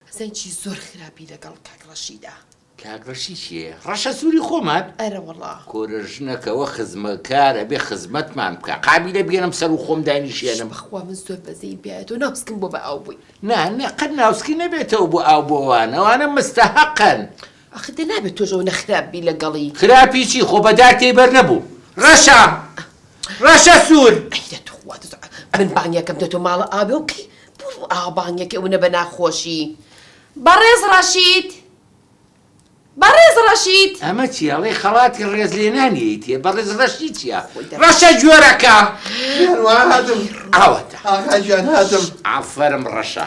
حسێن چی زۆر خراپی لەگەڵ کاک ڕەشیدا. کاک ڕەشی چیە ڕەشە سوری خۆمان. ئەرە وەڵا. کورە ژنەکەوە خزمەکار ئەبێ خزمەتمان بکا قابیلە بیەنم سەرو خۆم داینیشێنم. شش بەخوا من زۆر بەزەیم پێایە تۆ ناوسکم بۆ بە ئاو بووی. نا نا قەت ناوسکی نەبێتەوە بۆ ئاو بۆ ئەوان ئەوانە مستەهەقن. ئاخ دە نابێ تۆش ئەونە خراپ بی لە گەڵی. خراپی چی خۆ بە دار تێی بەر نەبوو ڕەشە ڕەشە سوور. ئەی دە توخوا دز من بانگەکەم دە تۆ ماڵە ئاوێ و کەی بۆ ئاوا بانگەکەی ئەونە بە ناخۆشی. بەڕێز ڕەشید بەڕێز ڕەشید. ئەمە چیە ئەڵێی خەڵاتی ڕێز لێنانی ئەیتیە بەڕێز ڕەشی چیە خۆی دە. ڕەشە گوێرەکە. گیان وا هاتم ئاوەتە. ئاغا گیان هاتم. ئافەرم ڕەشە.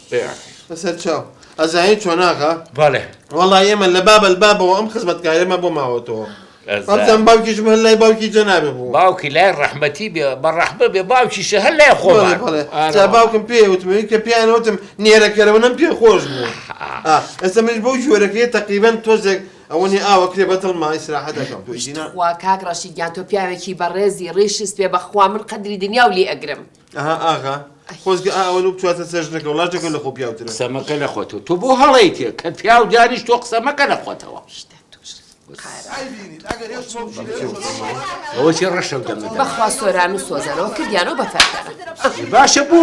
بەسەرچاو ئەزانی چۆن ئاغا بەڵێ وەڵا ئێمە لە بابل بابەوە ئەم خزمەتکارێمە بۆ ماوەتەوە ئەزان باوکیش هەر لای باوکی جەنابێ بوو باوکی لای ڕەحمەتی بێ بە ڕەحمە بێ باوکیشە هەر لای خۆ بەڵێ بەڵێ جا باوکم پێ وتمەوی کە پێیان وتم نێرەکەرەوەنم پێ خۆش بوو ئا، ئێستا منیش بەو جۆرەکەی تەقریبەن تۆزێک ئەوەنی ئاوە کرێ بە دڵما ئیسراحەت دەکەم تۆی دینا وا کاک ڕەشید گیان تۆ پیاوێکی بەڕێزی ڕیشی سپێ بەخوا من قەدری دنیاو لێ ئەگرم. ئەها ئاغا خۆزگە ئا ئەوەنە بتواتە چەژنەکە وڵا جەکە لە خۆ پیاوترە قسە مەکە لە خۆتەوە تۆ بۆ هەڵەیتێ کە پیاو دانیش تۆ قسە مەکە لە خۆتەوە شتە توش قارە ئای بینیت ئەگەر هێش بۆ بژی هێش بۆ بژی. ئەوە چی ڕەشە و دەمەدە بەخوا سۆران و سۆزانەوە کردیانەوە بە فەرخەرە باشە بۆ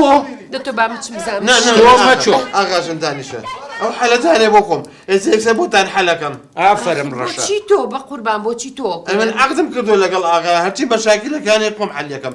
دەتۆ با بچم زان نا نا تۆ مەچۆ. ئاغاژن دانیشە ئەو حەلەتانێ بۆ خۆم ئێستا یەکسەر بۆتان حەلەکەم ئافەرم ڕەشە بۆچی تۆ بە قوربان بۆچی تۆ ئەمن عەقدم کردو لەگەڵ ئاغا هەرچی بە شاکیلەکانی خۆم حەلیەکەم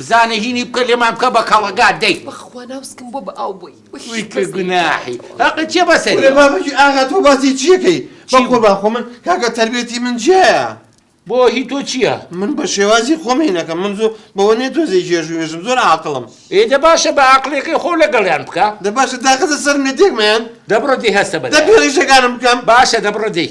بزانە هینی بکە لێمان بکە بە کەڵەگا دەی. بەخوا ناوسکم بۆ بە ئاو بووی. وی کە گوناحی هەقت چیە بەسەری. کورە مامکی ئاغا تۆ باسی چیەکەی بە قوربان خۆ من کاکە تەربێتی من جیایە. بۆ هی تۆ چیە. من بە شێوازی خۆم هینەکەم من زۆ بەوە نیە تۆزێ جێژ وێژم زۆر عاقڵم. ئێ دە باشە بە ئاقڵێکەی خۆو لەگەڵیان بکە. دە باشە داخەزە سەر مێتێک مەیان. دەبڕە دەی هەستە بە دەبی ڕیشەکانم بکەم. باشە دەبڕە دەی.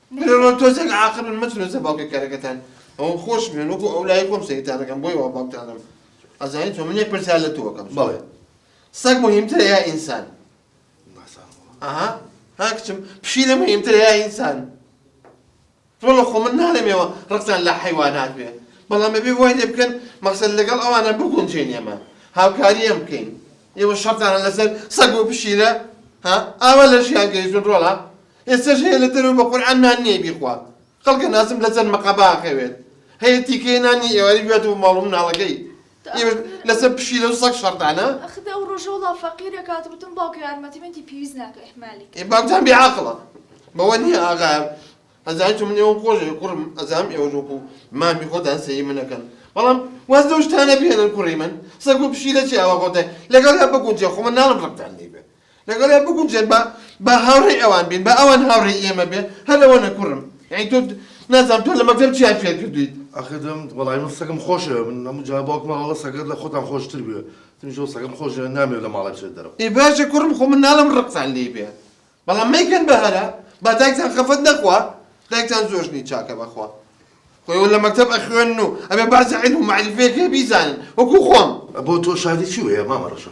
منەوە تۆزێک عاقلن مەچنە سەر باوکی کەرەکەتان ئەوم خۆش بێن وەکو ئەو لای خۆم سەیرتانەکەم بۆی وا باوکتانم ئەزانی تۆ منێ پرسیار لە تۆکەم بەڵێ سەگ مهمترە یا ئینسان ئەها ها کچم پشیلە مهمترە یا ئینسان وەڵە خۆ من نالێمەوە ڕقتان لە حیوانات بێ بەڵام ئەبێ وای لێ بکەن مەقسەد لەگەڵ ئەوانە بگونجێن ئێمە هاوکاری ئەم بکەین ئێوە شەڕتانە لەسەر سەگ و پشیلە ها ئاوا لە ژیان گەیشتون ڕۆڵە ئێستەش هەیە لە دەرەوە بە قورعان نان نیە بیخوا خەڵکە نازم لە جەن مەقەبا ئەخەوێت هەیە تیکەیە نان نیە ئێوارەی بیاتە بۆ ماڵ و مناڵەکەی ئێوەش لەسەر پشیلە و سەگ شەڕتانە ئەخدە ئەو ڕۆژە وڵا فەقیرە کات وتم باوکە یارمەتی من دی پێویست ناکە ئیهمالی کرد. ئێ باوکتان بێ عاقڵە بەوە نیە ئاغا ئەزانی چۆن من ئێوەم خۆش دەوێت کوڕم ئەزانم ئێوەش وەکو مامی خۆتان سەیری من ئەکەن بەڵام واز لەو شتانە بهێنن کوڕی من سەگ و پشیلە چی ئاوا خۆتان لەگەڵیان بگونجێ خۆ من ناڵێم ڕقتان لێی بێت لەگەڵیا بگونجێن با با هاوڕێی ئەوان بین با ئەوان هاوڕێی ئێمە بێ هەر ئەوەنە کوڕم یانی تۆ نازانم تۆ لە مەکتەب چیان فێر کردویت. ئاخر دەم وەڵای من سەگم خۆشەوێ من هەموو جار باوکم ئەڵێ سەگەت لە خۆتان خۆشتر بوێ تمیش وە سەگم خۆشەوێ نامەوێ لە ماڵێ بچێت دەرەوە. ئێ باشە کوڕم خۆ من ناڵێم ڕقتان لێی بێ بەڵام مەیکەن بە هەرا با دایکتان خەفەت نەخوا دایکتان زۆش نی چاکە بەخوا خۆ ئێوە لە مەکتەب ئەخوێنن و ئەبێ بەعزێ عیلم و مەعریفەیەک هەیە بیزانن وەکوو خۆم. بۆ تۆ شادی چی وەیە مامە ڕەشە.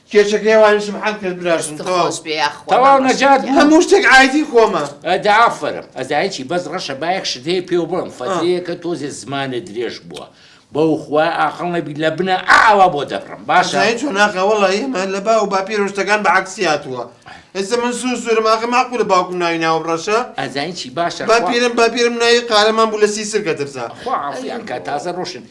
کێچەکەی ئەوانیش سبحان کرد براژن تەواو. دڵخۆش بێ یاخوا تەواو مامۆستا نەجات گیان. بوو هەموو شتێک ئایدی خۆمە. ئەدە ئافەرم ئەزای چی بەس ڕەشە با یەک شت هەیە پێو بڵێم فەترەیەکە تۆزێ زمانت درێژ بووە بەو خوایە ئاقڵ نەبی لە بنە ئا ئاوا بۆ دەبڕم باشە ئەزای چۆن ئاخە وەڵا ئێمە لە باو باپیرەوە شتەکان بە عەکسی هاتووە ئێستا من سوور سوورم ئاخە مەعقولە باوکم ناوی ناوم ڕەشە ئەزای چی باشە خوا باپیرم باپیرم ناوی قارەمان بوو لە سیسرکە ترسا. خوا عافیان کا تازە ڕۆشن.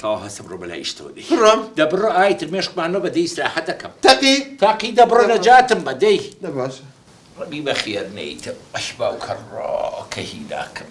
تەواو هەستە بڕۆ بەلای ئیشتەوە دەی. بڕۆم؟ دە بڕۆ ئایتر مێشکمان مەبە دەی ئیسراحەت دەکەم. تەقی؟ تەقی دە بڕۆ نەجاتم بە دەی. دە باشە. ڕەبی بەخێر نەیتم ئەی باوکە ڕۆکە هیلاکم.